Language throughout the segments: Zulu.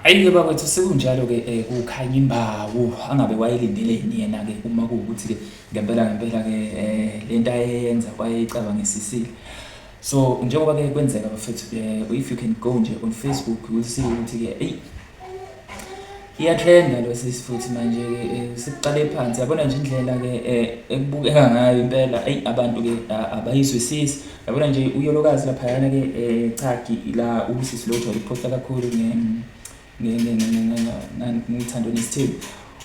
Ayi-ke bakwethu sekunjalo-ke um eh, kukhanya imbawu angabe wayelindeleni yena-ke uma kuwukuthi-ke ngempela ngempela-ke um le nto ayeyenza wayeyicabangisisile so njengoba-ke kwenzeka bafethu um if you can go nje on facebook will see ukuthi-ke eyi iyatrenda lo sisi futhi manje-ke eh, sekuqale phansi yabona nje indlela-ke um ekubukeka ngayo impela eyi abantu-ke abayizwisisi yabona nje uyolokazi laphayana ke eh, chaki la ubusisi lo ujwayele ukuphosta kakhulu ngithando nesithembu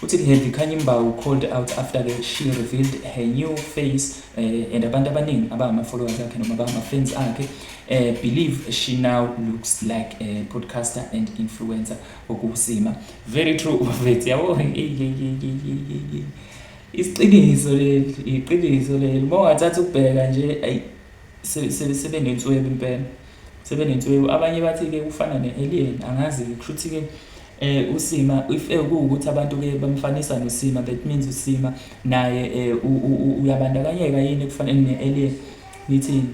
uthi heavy khanye imbawu called out after ke she revealed her new face uh, and abantu abaningi abangama-followers akhe noma abangama-fans akhe uh, believe she now looks like a podcaster and influencer okusima very true bafethu yabo Isiqiniso leli, iqiniso leli. Uma ungathatha ukubheka nje, ayi sebenenswebu impela. Sebenenswebu. Abanye bathi-ke kufana ne-alien, angazi-ke. Kusho ukuthi-ke um usima if kuwukuthi abantu-ke bamfanisa nosima, that means usima naye um uyabandakanyeka yini ekufaneni ne-alien, nithini?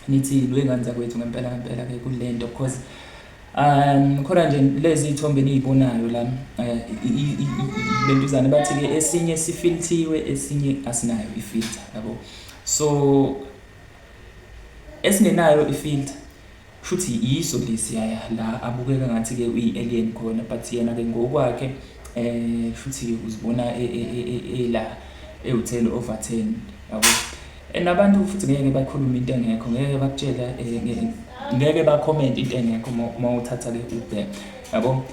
nithi lwengane zakwethu ngempela ngempela ke kulento because um khona nje lezi ithombe niyibonayo la eh, lentuzane bathi ke esinye sifilthiwe esinye asinayo ifilter yabo so esinginayo ifilter Shuthi yiso lesi yaya la abukeka ngathi ke uyi alien khona but yena ke ngokwakhe eh shuthi uzibona e, e, e, ela ewuthele over 10 yabo and abantu futhi ngeke bakhuluma into engekho ngeke bakutshela eh, ngeke ba comment into engekho uma uthatha ke ubhe yabo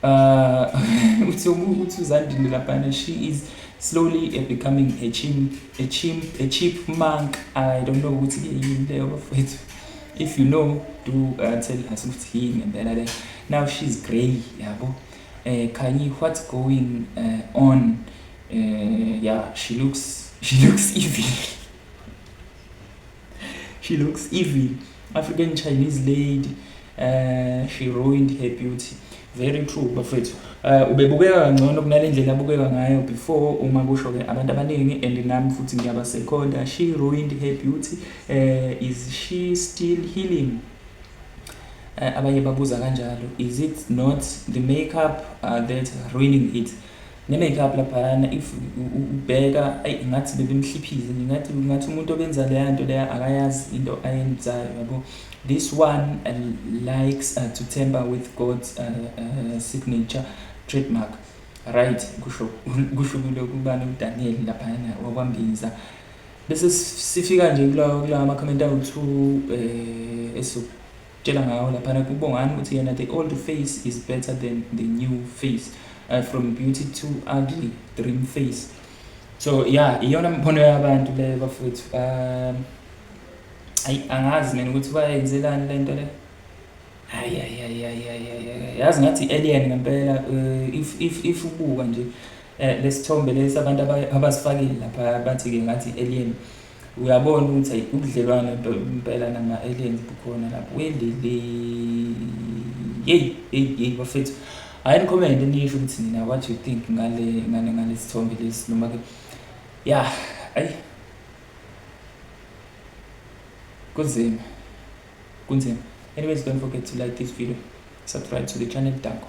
Uh, uthi uthi uzandile laphana she is slowly eh, becoming a chimp, a chimp, a cheap monk. I don't know ukuthi ke yini leyo bafethu. If you know, do uh, tell us ukuthi yini ngempela le. Now she's grey, yabo. Eh Kanye what's going uh, on? Uh, yeah, she looks she looks evil. She looks evil. African Chinese lady. Uh, she ruined her beauty. Very true bafethu. Uh, ubebukeka kangcono kunalendlela abukeka ngayo before uma kusho ke abantu abaningi and nami futhi ngiyaba second. She ruined her beauty. Uh, is she still healing? Eh, abanye babuza kanjalo is it not the makeup uh, that ruining it Ne make up laphayana if ubheka ayi ngathi bebimhliphile ngingathi ngathi umuntu obenza leya nto leya akayazi into ayenzayo yabo this one uh, likes uh, to temper with God's uh, uh, signature trademark right kusho kusho kulokubani uDaniel laphayana wakwambinza bese sifika nje kulawa kulawa ama comment awu2 eh eso tshela ngawo laphana kubongani ukuthi yena the old face is better than the new face uh, from beauty to ugly dream face so ya iyona mbono yabantu leyo bafowethu um ayi angazi mina ukuthi bayenzelani le nto le hayi hayi hayi hayi hayi yazi ngathi alien ngempela uh, if if if ubuka nje eh, lesithombe lesi abantu abasifakile lapha bathi-ke ngathi alien uh, uyabona ukuthi ayi ubudlelwane nto impela nama-aliens bukhona lapho welele yeyi yeyi yeyi bafethu hhayi nikhomende nisho ukuthi nina what you think ngale ngale ngale sithombe lesi noma ke ya ayi kunzima kunzima anyways don't forget to like this video subscribe to the channel danko